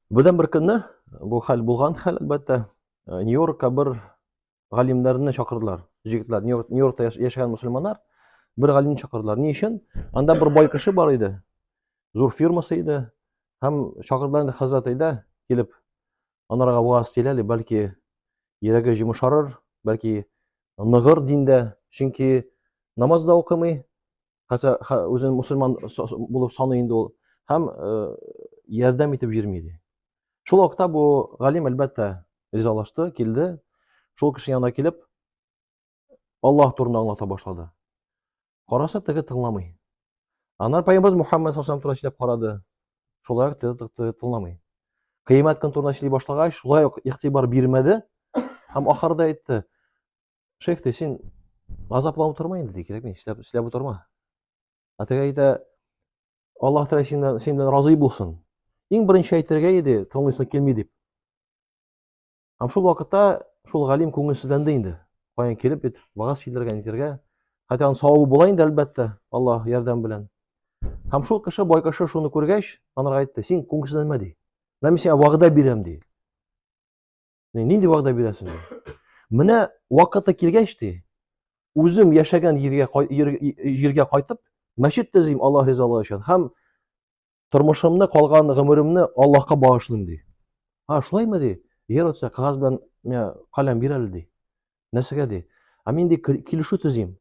Бердән бер көнне бу хәл булган хәл, әлбәттә, э, Нью-Йоркка бер галимнәрне чакырдылар. Җегетләр, Нью-Йоркта яшәгән мусульманнар бер галимне чакырдылар. Ни өчен? Анда бер бай кеше бар иде. Зур фирмасы иде. Һәм чакырдылар инде хәзрәт әйдә килеп анарга ваз тиләли, бәлки йөрәге җимешарыр, бәлки ныгыр диндә, чөнки намаз да укымый, Хәтта үзен мусульман булып саный инде ул һәм ярдәм итеп йөрми иде. Шул вакытта бу галим әлбәттә ризалашты, килде. Шул кеше янына килеп, Аллаһ турында аңлата башлады. Караса теге тыңламый. Анар пайгамбарыбыз Мухаммад саллаллаху турында сөйләп карады. Шулай ук теге тыңламый. Кыямәт көн турында сөйли башлагач, шулай ук игътибар бирмәде һәм ахырда әйтте: Шейх те син азапланып торма инде, ди, кирәкми, эшләп, эшләп утырма. Ә теге әйтә, Аллаһ Тәгалә син белән, син белән разый булсын. Иң беренче әйтергә иде, тыңлыйсы килми дип. Һәм шул вакытта шул галим күңелсезләнде инде. Каян килеп бит вагаз килергә, нитергә. Хәтта аның савабы була инде, әлбәттә, Аллаһ ярдәм белән. Һәм шул кеше, бай кеше шуны күргәч, анарга әйтте, син күңелсезләнмә ди. Менә мин сиңа вәгъдә бирәм ди. Нинди вәгъдә бирәсең? Менә вакыты килгәч ди, үзем яшәгән җиргә җиргә кайтып, мәчет төзим Аллаһ ризалыгы өчен һәм тормышымны, калган гомеремне Аллаһка багышлыйм ди. А, шулаймы ди? Егер отса, кагаз белән миңа каләм бир әле ди. Нәрсәгә ди? Ә мин ди килешү төзим.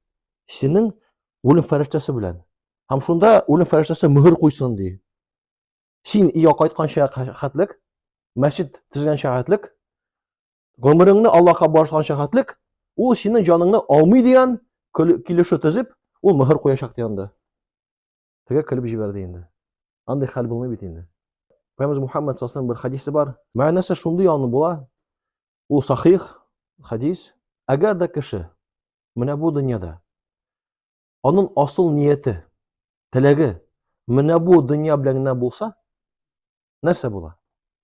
Синең үлем фәрештәсе белән. Һәм шунда үлем фәрештәсе мөһер куйсын ди. Син өйгә кайтканча хәтлек, мәчет төзгәнчә хәтлек, гомереңне Аллаһка багышлаганча хәтлек, ул синең җаныңны алмый дигән килешү төзеп, ул мөһер куячак дигән дә. Теге көлеп җибәрде инде. Андый хәл булмый бит инде. Пәйгамбер Мухаммад саллаллаху бер хадисе бар. Мәгънәсе шундый аны була. Ул сахих хадис. Әгәр дә кеше менә бу дөньяда Аның асыл нияте, теләге менә бу дөнья белән генә булса, нәрсә була?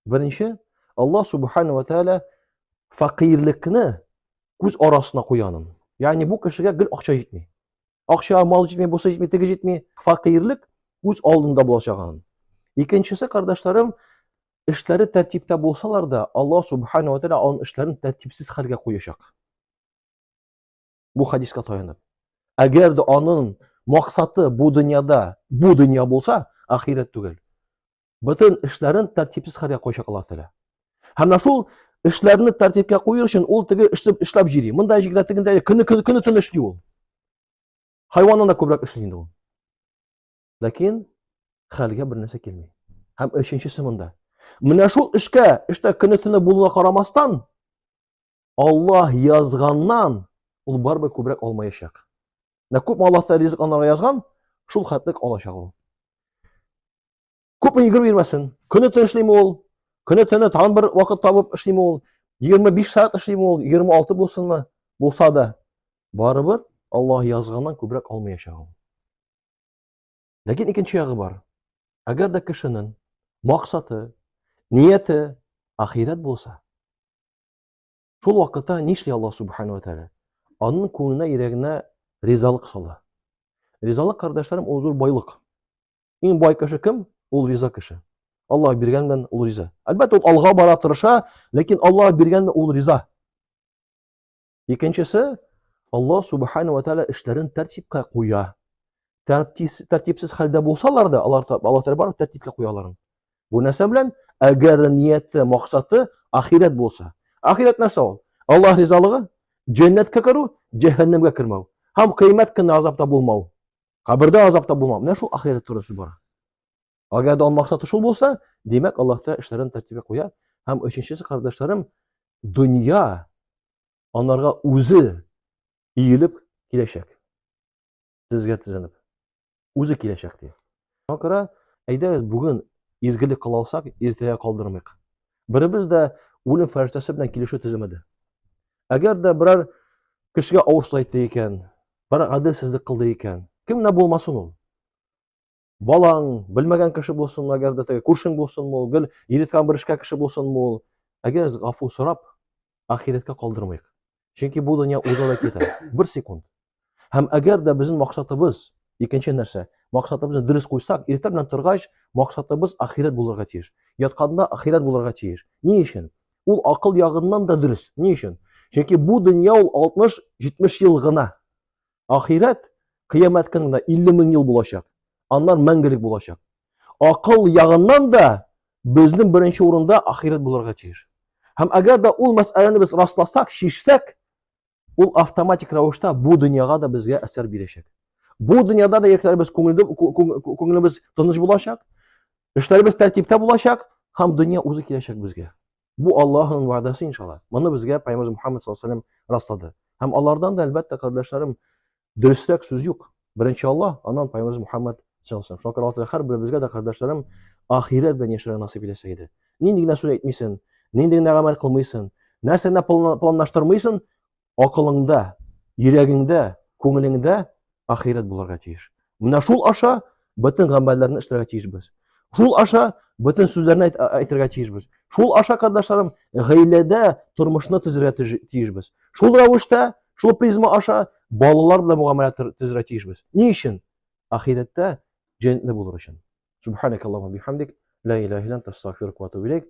Беренче, Аллаһ субхана ва тәгалә фәкыйрлекне күз арасына куянын. Ягъни бу кешегә гел акча җитми. Акча, мал җитми, бусы җитми, теге җитми. Фәкыйрлек күз алдында булачагын. Икенчесе, кардәшләрем, эшләре тәртиптә булсалар да, Аллаһ субхана ва тәгалә аның эшләрен тәртипсез хәлгә куячак. бу хадиска таянып. Әгәр дә аның максаты бу дөньяда, бу дөнья булса, ахирәт түгел. Бөтен эшләрен тәртипсез хәлгә куйчак Аллаһ Тәгалә. Һәм менә шул эшләрне тәртипкә кую өчен ул теге эшләп эшләп җири. Монда җигрә тегендә көне көне көне төн эшли ул. Хайваннан да күбрәк эшли инде ул. Ләкин хәлгә бер нәрсә килми. Һәм өченчесе монда. Менә шул эшкә, эштә көне төне булуына карамастан, Аллаһ язганнан ул барыбер күбрәк алмаячак. Менә күпме Аллаһта ризык анарга язган, шул хәтлек алачак ул. Күпме йөгереп йөрмәсен. Көне төн эшлиме ул? Көне төне тагын бер вакыт табып эшлиме ул? 25 сәгать эшлиме ул? 26 булсынмы? Булса да, барыбер Аллаһ язганнан күбрәк алмаячак ул. Ләкин икенче ягы бар. Әгәр дә кешенең максаты, нияте ахирәт булса, Шул вакытта нишли Аллаһ субхана ва тәгалә? Аның күңеленә, йөрәгенә ризалык сала. Ризалык, кардәшләрем, ул зур байлык. Иң бай кеше кем? Ул риза кеше. Аллаһ биргән белән ул риза. Әлбәттә, ул алга бара тырыша, ләкин Аллаһ биргән ул риза. Икенчесе, Аллаһ субхана ва тәала эшләрен тәртипкә куя. Тәртипсез хәлдә булсалар да, алар Аллаһ тәала барып тәртипкә куя аларын. Бу нәрсә белән? Әгәр нияте, максаты ахирәт булса. Ахирәт нәрсә ул? Аллаһ ризалыгы, җәннәткә керү, җәһәннәмгә кермәү. Һәм кыямәт көнне азапта булмау. Кабердә азапта булмау. Менә шул ахирәт турында сүз бара. Әгәр дә максаты шул булса, димәк, Аллаһ Тәгалә эшләрен тәртибе куя. Һәм өченчесе, кардәшләрем, дөнья анарга үзе иелеп киләчәк. Сезгә тезенеп. Үзе киләчәк ди. Шуңа күрә әйдәгез бүген изгелек кыла алсак, иртәгә калдырмыйк. Беребез дә үлем фәрештәсе белән килешү төземәде. Әгәр дә берәр кешегә авыр сүз әйтте икән, берәр гаделсезлек кылды икән, кемнә булмасын ул? Балаң, белмәгән кеше булсынмы, әгәр дә теге күршең булсынмы ул, гел иреткән бер эшкә кеше булсынмы ул. Әгәр гафу сорап, ахирәткә калдырмыйк. Чөнки бу дөнья уза да китә. Бер секунд. Һәм әгәр дә безнең максатыбыз, икенче нәрсә, максатыбызны дөрес куйсак, иртә белән торгач, максатыбыз ахирәт булырга тиеш. Ятканда ахирәт булырга тиеш. Ни өчен? Ул акыл ягыннан да дөрес. Ни өчен? Чөнки бу дөнья ул 60-70 ел гына. Ахирәт кыямәткә генә 50 мең ел булачак. Аннан мәңгелек булачак. Акыл ягыннан да безнең беренче урында ахирәт булырга тиеш. Һәм әгәр дә ул мәсьәләне без расласак, чишсәк, ул автоматик рәвештә бу дөньяга да безгә әсәр бирәчәк. Бу дөньяда да якларыбыз күңелебез тыныч булачак, эшләребез тәртиптә булачак һәм дөнья үзе киләчәк безгә. Бу Аллаһның вәгъдәсе иншалла. Моны безгә Пәйгамбер Мухаммад саллаллаһу алейһи раслады. Һәм алардан да әлбәттә кардәшләрем дөресрәк сүз юк. Беренче Аллаһ, аннан Пәйгамбер Мухаммад саллаллаһу алейһи Шакыр Аллаһ һәр беребезгә дә кардәшләрем ахирәт белән яшәргә насыйп итсә иде. Нинди генә сүз әйтмисен, нинди генә гамәл кылмыйсын, нәрсә генә планлаштырмыйсын, акылыңда, йөрәгеңдә, күңелеңдә ахирәт булырга тиеш. Менә шул аша бөтен гамәлләрне эшләргә тиешбез. Шул аша бөтен сүзләрне әйтергә тиешбез. Шул аша, кардәшләрем, гаиләдә тормышны төзергә тиешбез. Шул рәвештә, шул призма аша балалар белән мөгамәлә төзергә тиешбез. Ни өчен? Ахирәттә җәннәтле булыр өчен. Субханакаллаһу бихамдик, ла иляха илля анта, астагфирука ва атубу илейк.